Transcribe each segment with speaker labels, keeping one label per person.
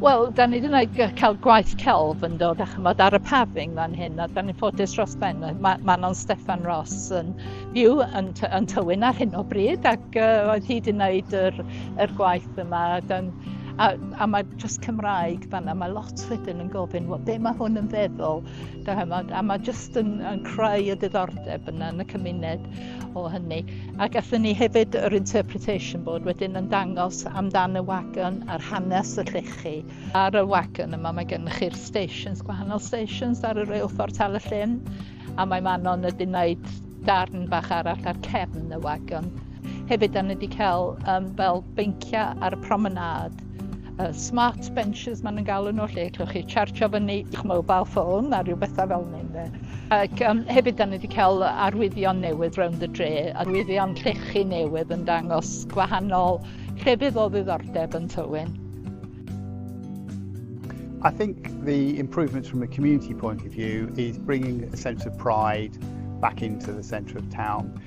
Speaker 1: Wel, da ni ddim wedi cael gwaith celf yn dod a chymod ar y paving fan hyn, a da ni'n ffodus dros ben. Mae Manon Steffan Ross yn byw yn, yn Tywyn ar hyn o bryd, ac uh, oedd hi wedi gwneud yr, yr gwaith yma. Dan, a, a mae dros Cymraeg fanna, mae lot wedyn yn gofyn, well, be mae hwn yn feddwl, da hymod, a mae jyst yn, yn creu y diddordeb yna yn y cymuned. o hynny. Ac athyn ni hefyd yr interpretation board wedyn yn dangos amdan y wagon a'r hanes y llechi. Ar y wagon yma mae gennych chi'r stations, gwahanol stations ar y reilffordd tal y llyn, a mae Manon wedi gwneud darn bach arall ar cefn y wagon. Hefyd, da ni wedi cael um, fel beinciau ar y promenade uh, smart benches maen nhw'n galw nhw lle llwch chi chargio fyny i'ch mobile phone a rhyw bethau fel hyn de. Ac um, hefyd da ni wedi cael arwyddion newydd round the dre, arwyddion llechi newydd yn dangos gwahanol llefydd o ddiddordeb yn Tywyn.
Speaker 2: I think the improvements from a community point of view is bringing a sense of pride back into the centre of town.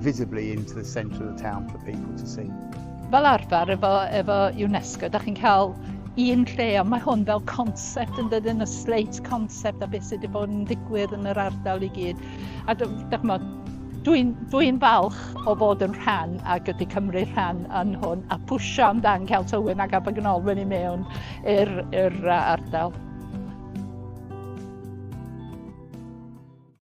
Speaker 2: visibly into the centre of the town for people to see. Fel arfer
Speaker 1: efo, efo UNESCO, da chi'n cael un lle, ond mae hwn fel concept yn dydyn y slate concept a beth sydd wedi bod yn digwydd yn yr ardal i gyd. A dwi'n dwi falch o fod yn rhan a gyda Cymru rhan yn hwn a pwysio amdan cael tywyn ac abagnol wedi mewn i'r ardal.